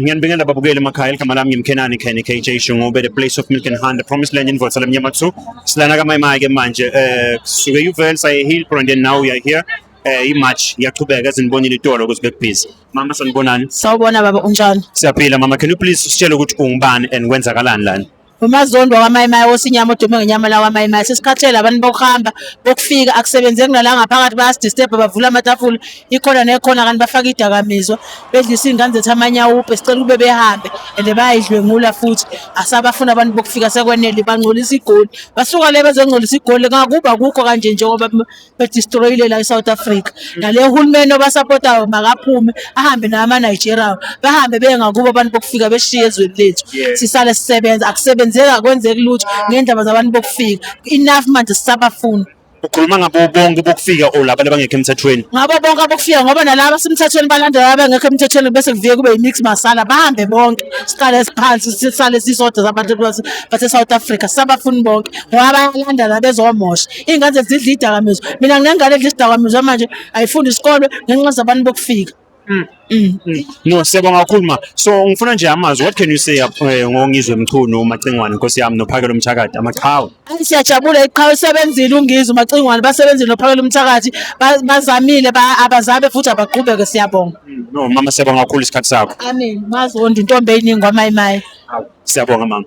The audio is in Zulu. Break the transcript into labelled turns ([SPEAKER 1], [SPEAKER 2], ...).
[SPEAKER 1] Ngiyanibingelela babukeli emakhaya igama lami ngimkhenani khene KJ Shungube the place of milk and honey the promised land in Votsala Mnyama 2 silana kamayimaya ke manje eh suke uvel saye hill and then now we are here eh imatch iyaqhubeka ezinibonile itolo ukuthi bekubhizi mama sanibonani sawubona baba
[SPEAKER 2] unjani siyaphila mama can you
[SPEAKER 1] please sitshele ukuthi ungubani and kwenzakalani lana umazondo wakamayimayi
[SPEAKER 2] wosinyama odume ngenyama lakamayimayi sesikhathele abantu bokuhamba bokufika akusebenzeki nala ngaphakathi bayasidisturb bavula amatafula ikhona nekhona kanti bafaka idakamizwa bedlisa iy'ngane zethu amanyawupe sicela ukube behambe and bayayidlwengula futhi asabafuna abantu bokufika sekwenele bangcolisa igoli basuka le bezongcolisa igoli ngakuba kukho kanje njengoba bedistroyile la e-south africa nale hulumeni obasapotayo makaphume ahambe nawo ama-nigeria bahambe beye ngakubo abantu bokufika beshiye ezweni lethu sisale sisebenza akusebenzeki akwenzeki lutho ngendaba zabantu bokufika enough manje sisabafuni ukhuluma ngabo
[SPEAKER 1] bonke bokufika or laba abangekho emthethweni ngabo bonke abokufika
[SPEAKER 2] ngoba nalaba semthethweni balandela abangekho emthethweni bese kuvike kube yimix masala bahambe bonke siqale siphansi sisale sisodwa zabantu base South Africa sabafuni bonke ngoba bayalandela bezomosha iy'ngane zethu zidla iy'dakamizwa mina nginengane edla isidakamizwa manje ayifundi isikole ngenxa zabantu bokufika Mm. Mm. Mm.
[SPEAKER 1] No, siyabonga kakhulu ma. So ngifuna nje amazwi. What can you say uh, ngongizwe Mchunu uMacingwane Nkosi yami nophakela umthakathi amaqhawe. Ayi siyajabula iqhawe
[SPEAKER 2] isebenzile ungizwe uMacingwane basebenzile nophakela umthakathi bazamile abazabe futhi abaqhubeke siyabonga. Mm, no mama siyabonga
[SPEAKER 1] kakhulu isikhathi sakho.
[SPEAKER 2] Amen.
[SPEAKER 1] Mazondi
[SPEAKER 2] intombi
[SPEAKER 1] eyiningi
[SPEAKER 2] kwamayimayi.
[SPEAKER 1] Siyabonga
[SPEAKER 2] mama.